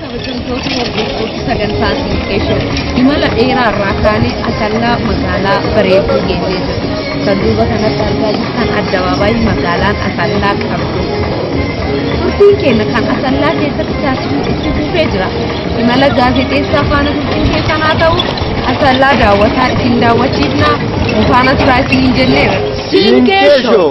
Kabajamtoota hordoftoota sagantaa Sinikkeeshoo imala dheeraa irraa kaanee asallaa magaalaa bareedduu geenyee jirra. Kan duuba kanatti argaa jirtan addabaabaayii magaalaan asallaa qabdu. Turtiin keenya kan asallaa keessatti taasisu itti fufee jira. Imala gaazexeessaa faana turtiin keessan haa ta'u asallaa daawwataa isin daawwachiifna. Mufaana turaa isin hin jenneera. Sinikkeeshoo.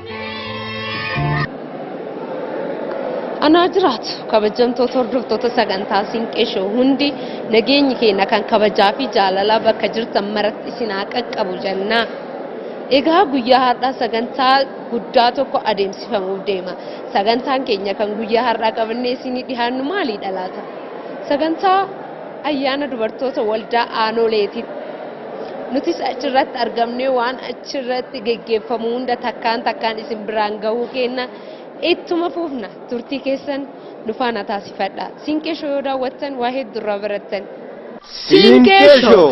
anaa jiraatu kabajamtoota hordoftoota sagantaa sinqeshoo hundi nageenyi keenya kan kabajaa fi jaalalaa bakka jirtan maratti isin haa qaqqabu jennaa. Egaa guyyaa har'aa sagantaa guddaa tokko adeemsifamuuf deema. Sagantaan keenya kan guyyaa har'aa qabannee isinii dhihaannu maaliidha laata? Sagantaa ayyaana dubartoota waldaa aanoleeti. Nutis achirratti argamnee waan achirratti geggeeffamu hunda takkaan takkaan isin biraan gahuu keenna ittuma fuufna turtii keessan nu faana taasifadha. Siinqee shoo yoo daawwattan waa hedduu irraa barattan. Siinqee shoo!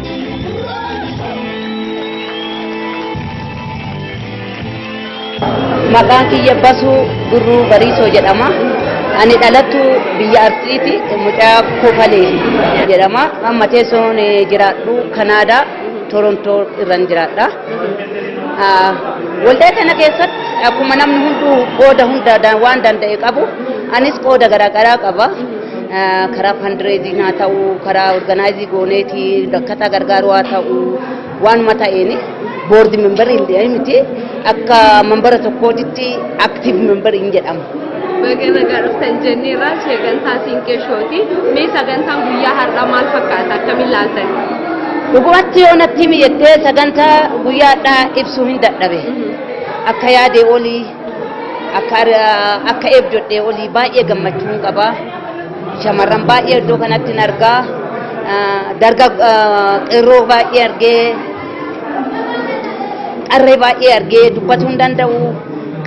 Maqaan kiyya basuu gurruu bariisoo jedhama. Ani dhalattu biyya Arsiiti mucaa kofalee jedhama. Amma teessoon jiraadhu Kanaadaa Torontoo irran jiraadha. Waldaa kana keessatti akkuma namni hunduu qooda hunda waan danda'e qabu anis qooda garaagaraa qaba. karaa fandireeziin haa ta'u karaa organaayizii gooneeti rakkataa gargaaruu haa ta'u waanuma ta'een boordi membarii hin ta'in miti akka membara tokkootitti aktiiv membarii hin jedhamu. Baga nagaa dhuftan jenneerra sagantaa Siinqeeshooti. Mee sagantaan guyyaa har'aa maal fakkaata akkamiin laaltan? Dhugumatti yoo natti mijattee sagantaa guyyaa har'aa ibsuu hin dadhabe. Akka yaadee olii Akka akka eebdodhee olii baay'ee gammachuun qaba. Shamarran baay'ee iddoo kanatti hin argaa. Darga qeerroo baay'ee argee qarree baay'ee argee dubbachuu hin danda'u.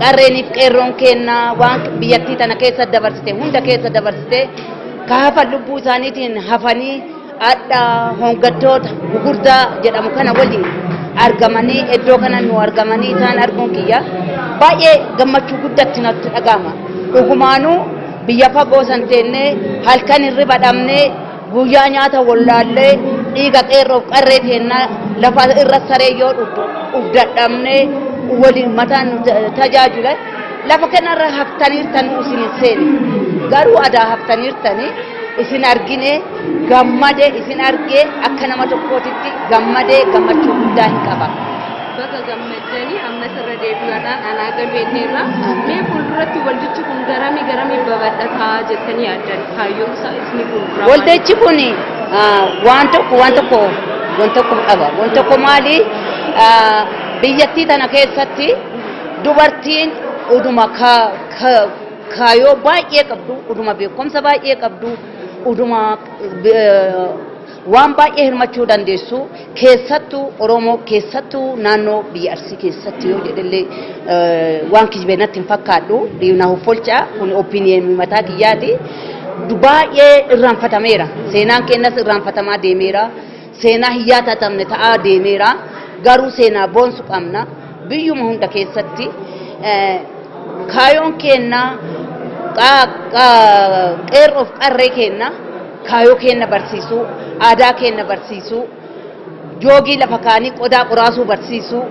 Qarreeniif qeerroon kenna waan biyyattii tana keessa dabarsite hunda keessa dabarsite kaafa lubbuu isaaniitiin hafanii Adha hongattoota gugurdaa jedhamu kana waliin argamanii iddoo kana nu argamanii isaan arguun kiyya baay'ee gammachuu guddatti natti dhaga'ama. Dhugumaanuu biyya fagoo san teennee halkan hirriba dhabnee guyyaa nyaata wallaallee dhiiga qeerroof qarree teennaa lafa irra saree yoo dhugdadhabnee waliin mataan nu tajaajila lafa kanarra haftaniirtan isin hin seene garuu adaa haftaniirtanii. isin argine gammade isin argee akka nama tokkootitti gammade gammachuu guddaa hin qaba. Baga gammaddanii ammas irra deebi'uudhaan anaa galmeeteerra mee fuulduratti waldichi kun garamii garamii babal'ataa jettanii yaaddan kaayyoon isaa isni fuulduraa. Waldichi kun waan tokko waan tokko waan tokko qaba waan tokko maali biyyattii tana keessatti dubartiin uduma ka kaayoo baay'ee qabdu, uduma beekumsa baay'ee qabdu, uduma eh, waan baay'ee hirmachuu dandeessu keessattuu Oromoo keessattuu naannoo biyya Arsii keessatti yoo jedhellee eh, waan kijibee natti hin fakkaadhu na hoffolcha kun opinion mataa kiyyaati. Du- Baay'ee irraanfatameera seenaan keenyas irraanfatamaa deemeera. Seenaa hin yaatatamne ta'aa deemeera. Garuu seenaa boonsu qabna. Biyyuma hunda keessatti eh, kaayoon keenna qa- qa- qeerroof qarree keenna kaayoo keenna barsiisuu, aadaa keenna barsiisuu, joogii lafa kaanii qodaa qoraasuu barsiisuu,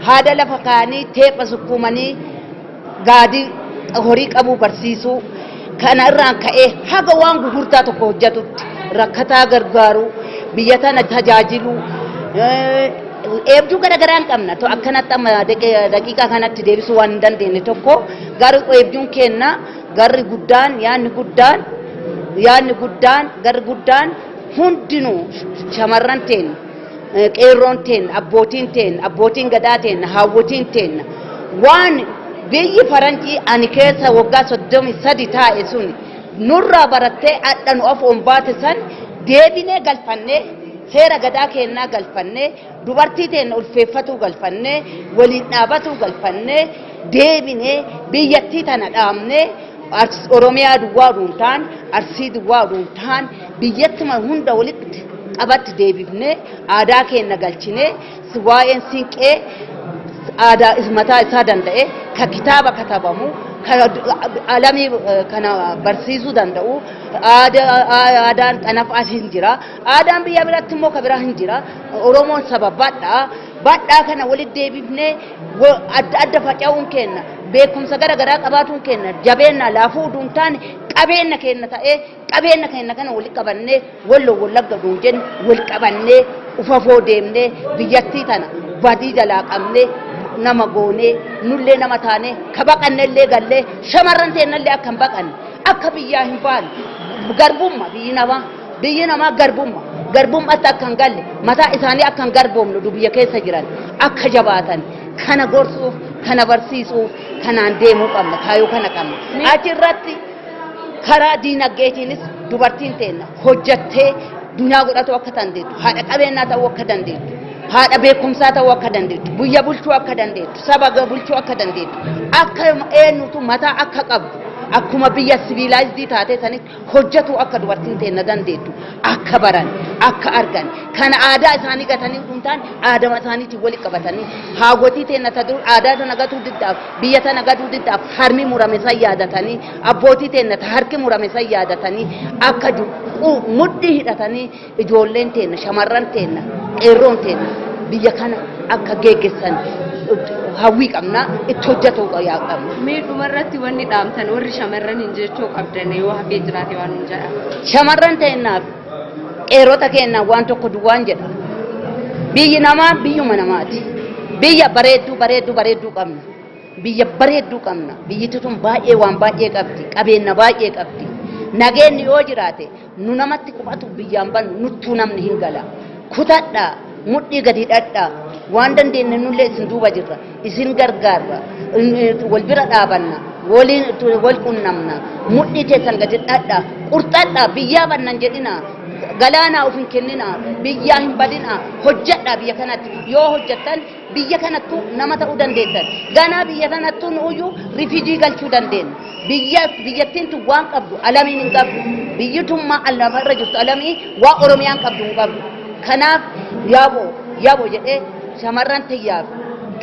haada lafa kaanii teepha sukkuumanii gaadii horii qabuu barsiisuu kana irraan ka'ee haga waan gugurtaa tokko hojjatutti rakkataa gargaaruu biyya tana tajaajiluu eebduu garagaraan qabna to akkanatti amma daqiiqaa kanatti deebisuu waan hin dandeenye tokko garuu eebduun keenna garri guddaan yaanni guddaan yaanni guddaan garri guddaan hundinuu shamarran teenya eh, qeerroon teenna, abbootiin teenna, abbootiin gadaa teenna, haawwotiin teenna waan biyyi faranjii ani keessa waggaa 33 taa'e sun nurraa barattee adha nu afoon baate san deebinee galfannee seera gadaa keennaa galfannee dubartii teenna ulfeeffatuu galfannee waliin dhaabatuu galfannee deebinee biyyattii tana dhaabnee Artis Oromiyaa duwwaa oduu hin taane, Arsii duwwaa oduu hin taane, biyyattuma hunda walitti qabatti deebifnee aadaa keenna galchinee si- waa'een siinqee aadaa is- mataa isaa danda'e ka kitaaba katabamu ka ad- ad- alamii eh, kana barsiisuu danda'u aadaa- aa- aadaan xanafaas hin jira aadaan biyya biratti immoo ka biraa hin jira oromoon saba badhaa badhaa kana walitti deebifnee wa- adda adda faca'uun keenna beekumsa gara garaa qabaatuun keenna jabeenna laafuu uduun taane qabeenna keenna ta'ee qabeenna keenna kana wal qabannee wallo wallagga duun jenne wal qabannee ufafoo deemnee biyyattii tana badii jalaa qabnee nama goonee nullee nama taanee ka baqannellee gallee shamarran teennallee akka hin baqanne akka biyyaa hin baane garbumma biyyi namaa Biyyi namaa garbumma. Garbummaatti akka hin galle mataa isaanii akka hin garboomne dubiyya keessa jiran akka jabaatan kana gorsuuf kana barsiisuuf kanaan deemuu qabna kaayoo kana qabna. Achi irratti karaa diinagdeetiinis dubartiin teenna hojjattee dunyaa godhatuu akka dandeettu haadha qabeenyaa ta'uu akka dandeettu haadha beekumsaa ta'uu akka dandeettu biyya bulchuu akka dandeettu saba bulchuu akka dandeettu akka eenyutu mataa akka qabdu akkuma biyya siviilaayizdii taatee sanitti hojjetuu akka dubartiin teenna dandeettu akka baran akka argan kana aadaa isaanii gatanii utuu hin taane aadama isaaniitiin wali qabatanii haawwatii teenna ta dur aadaa tana gatuu diddaaf biyya tana gatuu diddaaf harmi murame san yaadatanii abbootii teenna ta harki murame san yaadatanii akka du- qu- mudhii hidhatanii Ijoolleen teenna, shamarran teenna, qeerroon teenna biyya kana akka geeggessan hawwii qabna, itti hojjetuu qabna. Mee dhumarratti wanni dhaamtan warri shamarran hin jechuu qabdan yoo hafee jiraate waan hin jedha. Shamarran teennaaf qeerrota keennaaf waan tokko duwwaan jedha. Biyyi namaa biyyuma namaati. Biyya bareedduu bareedduu bareedduu qabna. Biyya bareedduu qabna. Biyyittii tun baay'ee waan baay'ee qabdi. Qabeenna baay'ee qabdi. Nageenni yoo jiraate nu namatti qubatu biyyaan bannu nuttuu namni hin gala kutadha mudhii gadi dhadha waan dandeenye nullee isin duuba jirra isin gargaarra wal bira dhaabanna waliin wal qunnamna mudhii keessan gadi dhadha qurxadha biyyaa bannan jedhina galaanaa of hin kennina biyyaa hin badina hojjedha biyya kanatti yoo hojjettan biyya kanattu nama ta'uu dandeettan. Ganaa biyya tanattu nu'uyyu rifijii galchuu dandeenya. Biyya biyyattiin tun waan qabdu alamiin hin qabdu. Biyyi tun maa alama irra jirtu alamii waa Oromiyaan qabdu hin qabdu. Kanaaf yaaboo yaaboo jedhee shamarran tiyyaaf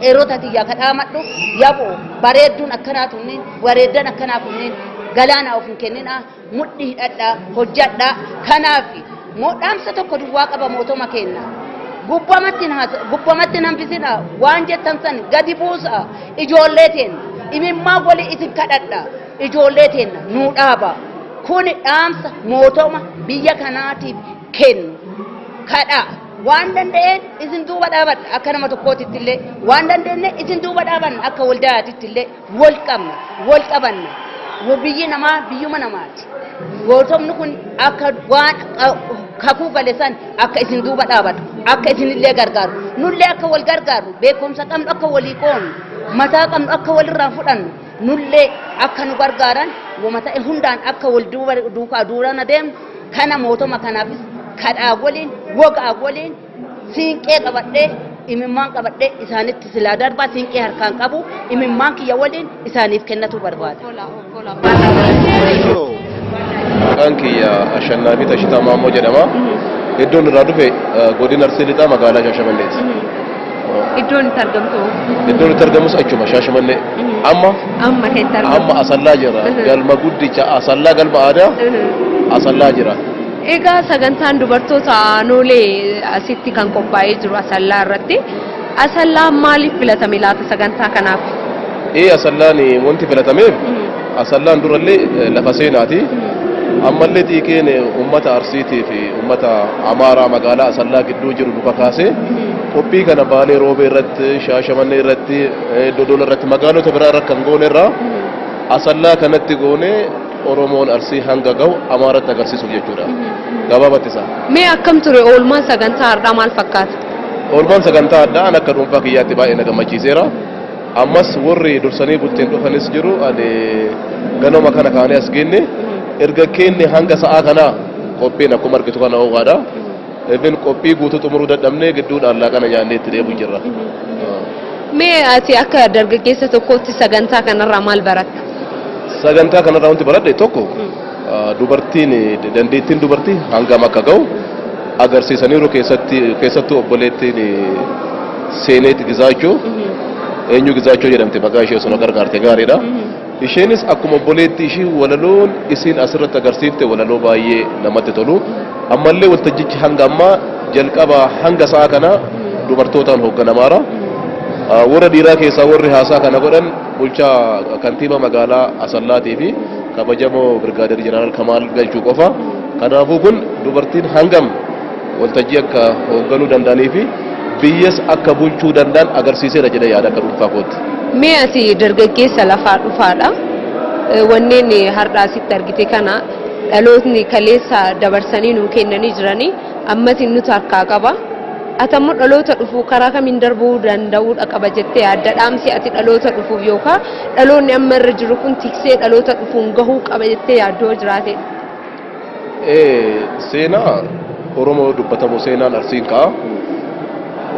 qeerota tiyyaa kadhaamadhu yaaboo bareedduun akkanaa tunniin bareeddan akkanaa kunniin galaanaa of hin kenninaa. mudhi hidhadha hojjadha kanaaf moo dhaamsa tokko duwwaa qaba mootoma keenna gubbamatti naasa gubbamatti nanfisina waan jettan san gadi buusa ijoollee teenna imimmaa wali isin kadhadha ijoollee teenna nuu dhaaba kuni dhaamsa mootoma biyya kanaatiif kennu kadha waan danda'een isin duuba dhaabadha akka nama tokkootitti illee waan dandeenye isin duuba dhaabanna akka waldaatitti illee wal qabna, wal qabanna. Wo biyyi namaa biyyuma namaati. Gootomni kun akka waan a- kakuu gale san akka isin duuba dhaabatu, akka isinillee gargaaru. Nullee akka wal gargaaru, beekumsa qabnu akka walii qoonu, mataa qabnu akka walirraa fudhannu, nullee akka nu gargaaran wama ta'e hundaan akka wal duuba duukaa duurana deemnu kana mootoma kanaafis kadhaa waliin, wogaa waliin, Siinqee qabadhee imimmaan qabadhee isaanitti silaa darbaa siinqee harkaan qabu imimmaan kiyya waliin isaaniif kennatuu barbaada. Maqaan kiyya Ashannaafi Tashitaa Maammoo jedhama. Iddoon irraa dhufe eh, godina Arsii Lixaa magaalaa Shaashamanneeti. Iddoon itti argamtu Iddoon itti argamus achuma Shaashamannee. Amma amma keessatti amma Asallaa jira. Galma guddicha Asallaa galma aadaa Asallaa jira. Egaa sagantaan dubartoota aanoolee asitti kan qophaa'ee jiru Asallaa irratti. Asallaan maaliif filatame laata sagantaa kanaaf? Ee Asallaan wanti filatameef Asallaan durallee lafa seenaati. Ammallee xiiqiin uummata Arsiitii fi uummata Amaaraa magaalaa Asallaa gidduu jiru nu kakaasee qophii kana Baalee Roobee irratti, Shaashamannee irratti, Dodola irratti magaalota biraa irra kan goone irraa Asallaa kanatti goonee Oromoon Arsii hanga gahu Amaaratti agarsiisuuf jechuudha. Gabaabatti isaa. Mee akkam ture oolmaan sagantaa har'aa maal fakkaata? Oolmaan sagantaa addaa an akka dhuunfaa kiyyaatti baay'ee na gammachiiseera. Ammas warri dursanii bultiin dhufanis jiru ani ganama kana kaanee as geenne erga keenne hanga sa'aa kanaa qophiin akkuma argitu kana ho'aadha. Even qophii guutuu xumuruu dadhabnee gidduudhaan laaqana nyaannee itti deebi'u jirra. Mee ati akka dargaggeessa tokkootti sagantaa kanarraa maal baratta? Sagantaa kanarraa wanti baradhe tokko dubartiin dandeettiin dubartii hangam akka ga'u agarsiisaniiru keessatti keessattuu obboleettiin seeneet gizaachuu eenyu gizaachuu jedhamte maqaa ishee osoo na gargaarte gaariidha. Isheenis akkuma obboleettii ishii walaloon isiin asirratti agarsiifte walaloo baay'ee namatti tolu. Ammallee waltajjichi hanga ammaa jalqabaa hanga sa'a kanaa dubartootaan hoogganamaara. Warra dhiiraa keessaa warri haasaa kana godhan bulchaa kantiibaa magaalaa Asallaatii fi kabajamoo Birgaadeer Jeneraal Kamaal Galchuu qofa. Kanaafuu kun dubartiin hangam waltajjii akka hoogganuu danda'anii fi biyyas akka bulchuu danda'an agarsiiseera jedhee yaada akka dhuunfaa kootti. Mee ati dargaggeessa lafaa dhufaadha. Wanneen har'aa asitti argite kana dhalootni kaleessa dabarsanii nuu kennanii jiranii ammas nutu harkaa qaba. Ati ammoo dhaloota dhufu karaa kamiin darbuu danda'uudha qaba jettee yaadda dhaamsi ati dhaloota dhufuuf yookaan dhaloonni amma irra jiru kun tiksee dhaloota dhufuun gahuu qaba jettee yaaddoo jiraate. Seenaa Oromoo dubbatamu seenaan Arsiin ka'a.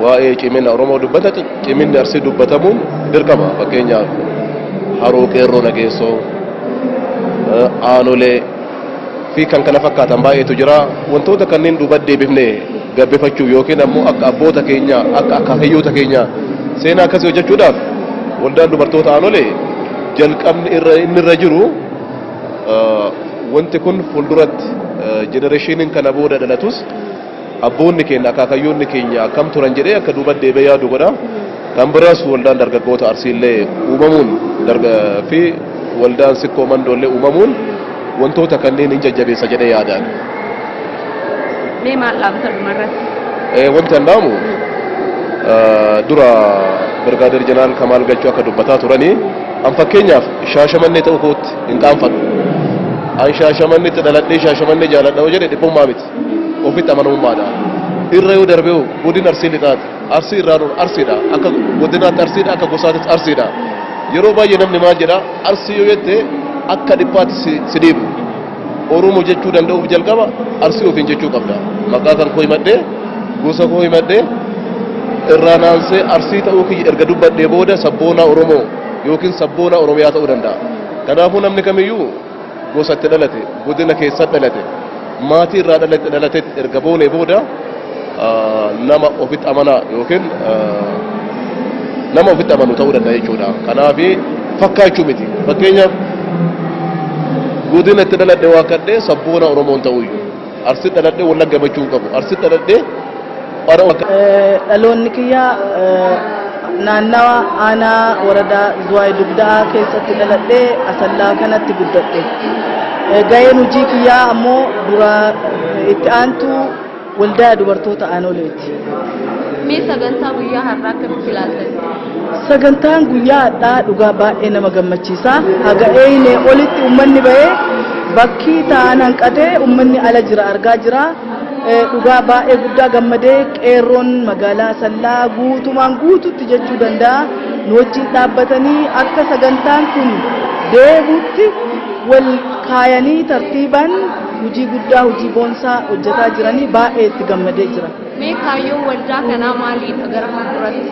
Waa'ee cimina Oromoo dubbata ciminni Arsii dubbatamuun dirqama. Fakkeenyaaf haroo qeerroo nageessoo, aanolee fi kan kana fakkaatan baay'eetu jira. Wantoota kanneen duuba deebifnee gabbifachuuf yookiin ammoo akka abboota keenyaa akka akaakayyoota keenyaa seenaa akkasii hojjechuudhaaf waldaan dubartoota aanolee jalqabni irra inni irra jiru Wanti kun fuulduratti jenereeshiiniin kana booda dhalatus abboonni keenya akaakayyoonni keenya akkam turan jedhee akka duuba deebee yaadu godha. Kan biraas waldaan dargaggoota Arsiillee uumamuun fi waldaan sikkoo mandoollee uumamuun wantoota kanneen hin jajjabeessa jedhee yaadaan. Mee maal dhaamta dhumarratti? Wanti an dhaamu dura Birgaadeer Jeneraal Kamaal Galchuu akka dubbataa turanii An fakkeenyaaf shaashamannee ta'uu kootti hin qaanfadhu. An shaashamannetti dhaladhee shaashamannee jaaladha yoo jedhe dhiphummaa miti. Ofitti amanamummaadha. Irra yoo darbee hoo godina Arsii lixaati. Arsii irraa nuun Arsiidha. Akka godinaatti Arsiidha akka gosaatis Arsiidha. Yeroo baay'ee namni maal jedha Arsii yoo jette akka dhiphaatti si si dhiibu. Oromo jechuu danda'uuf jalqaba arsii ofiin jechuu qabda. Maqaa kan koo himadhee, gosa koo himadhee, irraa naansee arsii ta'uu kiyya erga dubbadhee booda sabboonaa Oromoo yookiin sabboonaa Oromiyaa ta'uu danda'a. Kanaafuu namni kamiyyuu gosa itti dhalate, godina keessa dhalate, maatii irraa dhalate dhalate erga boonee booda nama ofitti amanaa yookiin nama ofitti amanu ta'uu danda'a jechuudha. Kanaaf fakkaachuu miti. Fakkeenyaaf godina itti dhaladhe waa kadhee sabboona Oromoon ta'uyyuu. Arsi dhaladhee wal gammachuu qabu. Arsi dhaladhee bara wal Dhaloonni kiyya naannawa aanaa waradaa Zuwaay Dugdaa keessatti dhaladhee asallaa kanatti guddadhe. Gaheen hojii kiyyaa ammoo dura itti aantu Waldaa Dubartoota Aanoleeti. Mee sagantaa guyyaa har'aa akkamitti ilaaltan? Sagantaan guyyaa hadhaa dhugaa baay'ee nama gammachiisa. Haga eeynee olitti ummanni bahee bakki ta'an hanqatee ummanni ala jira argaa jira. Eh, Dhugaa baay'ee guddaa gammadee qeerroon magaalaa Sallaa guutumaan guututti jechuu danda'a. Nu wajjin dhaabbatanii akka sagantaan kun deebuutti wal kaayanii tartiibaan hojii guddaa hojii boonsaa hojjetaa jiranii baay'ee itti gammadee jira. Mee kaayyoon waldaa kanaa maaliidha gara fuulduratti?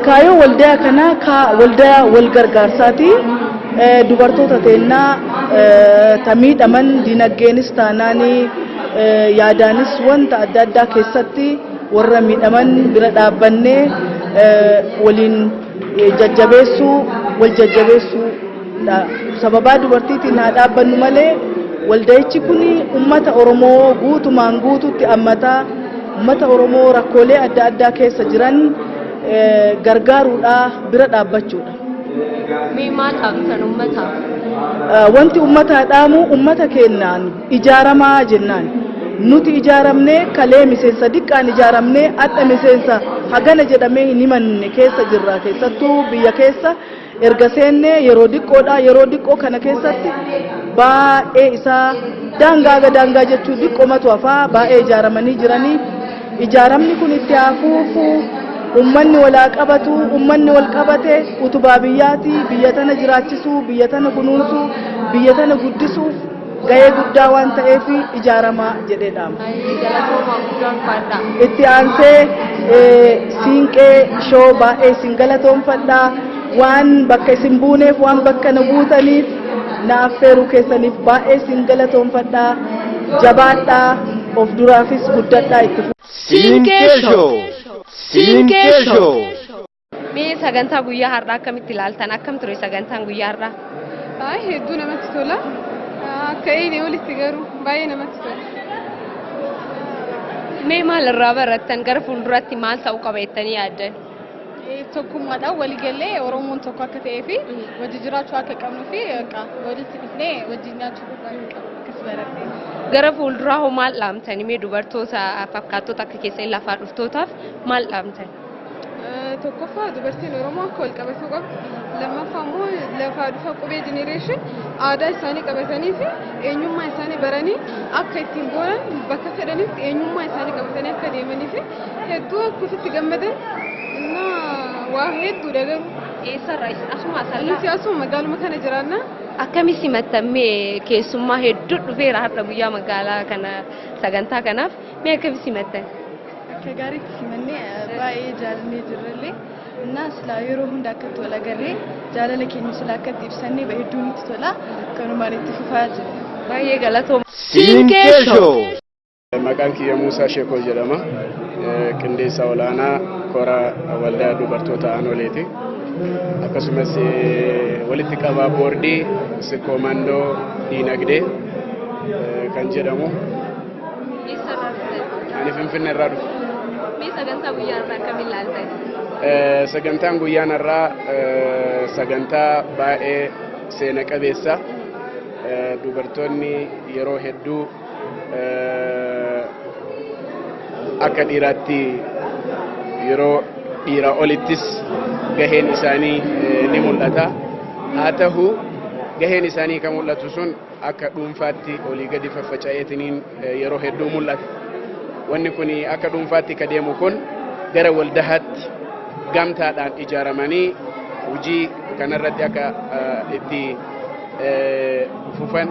Kaayyoon waldaa kanaa kaa waldaa wal gargaarsaati. Dubartoota teennaa ta miidhaman dinagdeenis taanaanii yaadaanis wanta adda addaa keessatti warra miidhaman bira dhaabbannee waliin jajjabeessuu wal jajjabeessuu Sababaa dubartiitiin haa dhaabbannu malee walda'ichi kun uummata Oromoo guutumaan guututti ammata uummata Oromoo rakkoolee adda addaa keessa jiran gargaaruudha bira dhaabbachuudha. Mee maal dhaamtan uummataaf? Wanti uummataa dhaamu uummata keenyaan ijaaramaa jennaan. Nuti ijaaramnee kalee miseensa diqqaan ijaaramnee adda miseensa hagana jedhamee hin himanne keessa jirra keessattuu biyya keessa. Erga seennee yeroo diqqoodha. Yeroo diqqoo kana keessatti baay'ee isaa daangaa ga daangaa jechuu diqqomatu hafaa baay'ee ijaaramanii jiranii. Ijaaramni kun itti haa fuufu. Ummanni wal haa qabatu. Ummanni wal qabate utubaa biyyaati. Biyya tana jiraachisuu, biyya tana kunuunsuu, biyya tana guddisuuf gahee guddaa waan ta'eef ijaaramaa jedhee dhaama. Baay'ee galatoomaa guddaan faadha. Itti aansee eh, siinqee shoo baay'ee isin galatoomfadha. Waan bakka isin buuneef waan bakka nu buutaniif na affeeruu keessaniif baay'ee isin galatoomfadha. Jabaadha of duraafis guddadha itti fufa. Siinqee Shoo! Siinqee Shoo! Mee sagantaa guyyaa har'aa akkamitti ilaaltan? Akkam ture sagantaan guyyaa har'aa? Baay'ee hedduu namatti tola. Akka eegne olitti garuu baay'ee namatti tola. Mee maal irraa barattan? Gara fuulduratti maal ta'uu qaba jettanii yaaddan? Eh, Tokkummaadhaan waliigallee Oromoon tokko akka ta'ee fi wajji jiraachuu akka qabnuu fi egaa walitti dhufnee wajjin nyaachuu akka qabnu akkas baratte. Gara fuulduraa hoo maal dhaamtani? Mee dubartoota fakkaattota akka keessan lafaa dhuftootaaf maal dhaamtan? tokkoffaa dubartiin Oromoo akka wal qabatuu qabdu lammaffaa immoo lafaa dhufa qubee jenereeshin aadaa isaanii qabatanii fi eenyummaa isaanii baranii akka ittiin booran bakka fedhanitti eenyummaa isaanii qabatanii akka deemanii fi hedduu akka ofitti gammadan na waa hedduu dagaru. Eessarraa asuma asarraa. Nuti asuma magaaluma kana jiraanna. Akkami simattammee keessummaa hedduu dhufeera har'a guyyaa magaalaa kana sagantaa kanaaf mee akkami simattan? Akka gaariitti simannee baay'ee jaalannee jirrellee እና ስላ yeroo hunda akkatti wal agarree jaalala keenya sila akkatti ibsannee ba hedduu nutti tola kanumaan itti fufaa jira. Baay'ee galatooma. Siinqee Show. Maqaan kiyya Muusaa Sheekoo jedhama. Qindeessaa olaanaa kora waldaa dubartoota aanoleeti. Akkasumas walitti qabaa boordii sirkoomandoo diinagdee kan jedhamu Eessarraa dhuftan? Ani Finfinnee irraa dhufe. Mee sagantaa guyyaa irraa akkamiin laaltan? Eh, Sagantaan guyyaan irraa eh, sagantaa baay'ee seena qabeessa. Eh, Dubartoonni yeroo hedduu eh, akka dhiiraatti yeroo dhiiraa olittis gaheen isaanii eh, ni mul'ata. Haa ta'u gaheen isaanii kan mul'atu sun akka dhuunfaatti olii gadi faffaca'eetiniin yeroo hedduu mul'ata. Wanni kun akka dhuunfaatti ka deemu kun gara waldahaatti gamtaadhaan ijaaramanii hojii kanarratti akka itti fufan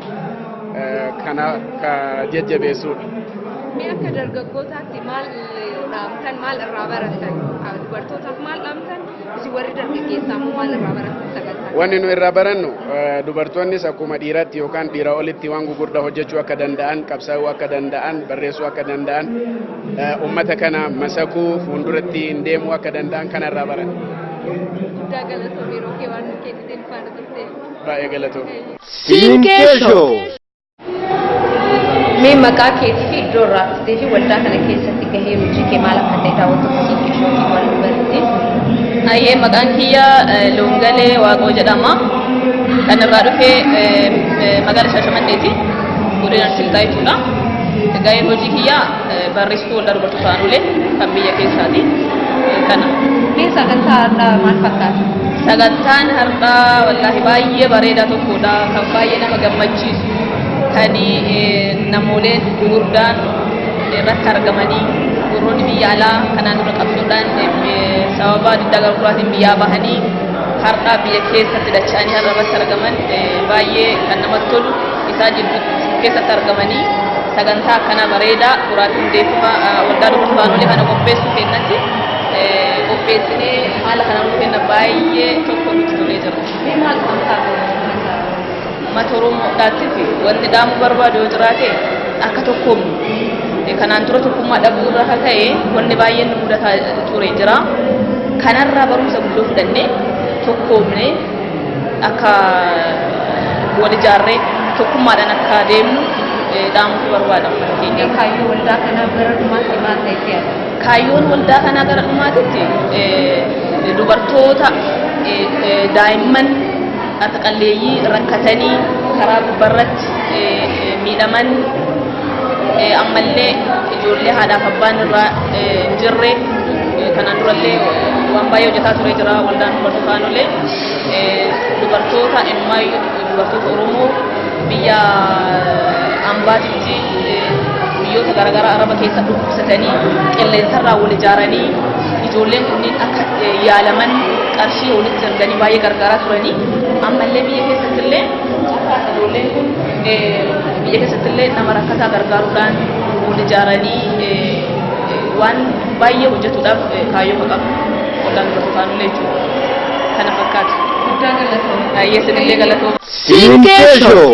kana ka jajjabeessuudha. Mee akka dargaggootaatti maal dhaamtan maal irraa baratan dubartootaaf maal dhaamtan Isin warri dargaggeessaa immoo maal irraa barattan sagantaa? Wanni nu irraa barannu eh, dubartoonnis akkuma dhiiraatti yookaan dhiira olitti waan gugurdaa hojjechuu akka danda'an, qabsaa'uu akka danda'an, barreessuu akka danda'an, eh, uummata kana masakuu fuulduratti hin deemuu akka danda'an kana irraa baranna. Guddaa galatoomi yeroo kee waan nu kenniteef faana turteef. Baay'ee galatoomi. Sinkee Show. Mee maqaa keetii fi iddoo irraa dhuftee fi waldaa kana keessatti gahee hojii kee maal akka ta'e daawwattoota keenya ishootii waan nu barsiise. Ayyee maqaan kiyya eh, Loongalee Waaqoo jedhama. Kan irraa dhufe eh, eh, magaala Shaashamanneeti. Godina Silxaa jechuudha. Gaheen hojii kiyya Barreessituu Waldaa Dubartoota Aanolee kan biyya keessaati. Kana. Mee sagantaa har'aa maal fakkaata? Sagantaan har'aa wallaahi baay'ee bareedaa tokkodha. Kan baay'ee nama gammachiisu kan eh, namooleen gurguddaan irratti argamanii gurroonni biyya alaa kanaan dura qabsoodhaan eh, sababa diddaa garguraatiin biyyaa bahanii har'aa biyya keessatti dacha'anii har'a irratti argaman eh, baay'ee kan namatti tolu isaa jidduutti keessatti argamanii sagantaa akkanaa bareedaa turaatii hundeeffama waldaa dubartootaalee kana qopheessuu kennatti qopheessinee haala kana nuu kenna baay'ee tokko nutti tolee jira. Mee maal kan taate? Mata Oromoodhaatiif wanti dhaamuu barbaadu yoo jiraate akka tokkoomnu kanaan dura tokkummaa dhabuu irraa kan ka'e wanni baay'een nu mudataa ture jira. Kanarraa barumsa guddoo fudhannee tokkoomnee akka wal ijaarree tokkummaadhaan akka deemnu eh, dhaamutu barbaada ummata keenya. Kaayyoo waldaa kanaa bara dhumaatti maal ta'etti yaada? Kaayyoon waldaa kanaa gara dhumaatitti eh, dubartoota, eh, eh, daa'imman, harka qalleeyyii rakkatanii karaa gubbarratti eh, eh, miidhaman eh, ammallee ijoollee haadhaaf abbaan irraa eh, hin jirre Kanaan durallee waan baay'ee hojjetaa ture jira waldaan dubartoota aanolee dubartoota emmaayyuu dubartoota Oromoo biyya ambaatitti biyyoota garaagaraa araba keessa dhukkubsatanii qilleensarraa wal ijaaranii ijoolleen kunniin akka yaalaman qarshii walitti erganii baay'ee gargaaraa turanii ammallee biyya keessatti illee akka ijoolleen kun biyya keessatti illee nama rakkataa gargaaruudhaan wal ijaaranii waan baay'ee hojjetuudhaaf kaayyoo qabu ollaan dura taanullee jechuudha. Kana fakkaata. Guddaa galatoom. Baay'ee sinillee galatoom. Siinqee Show.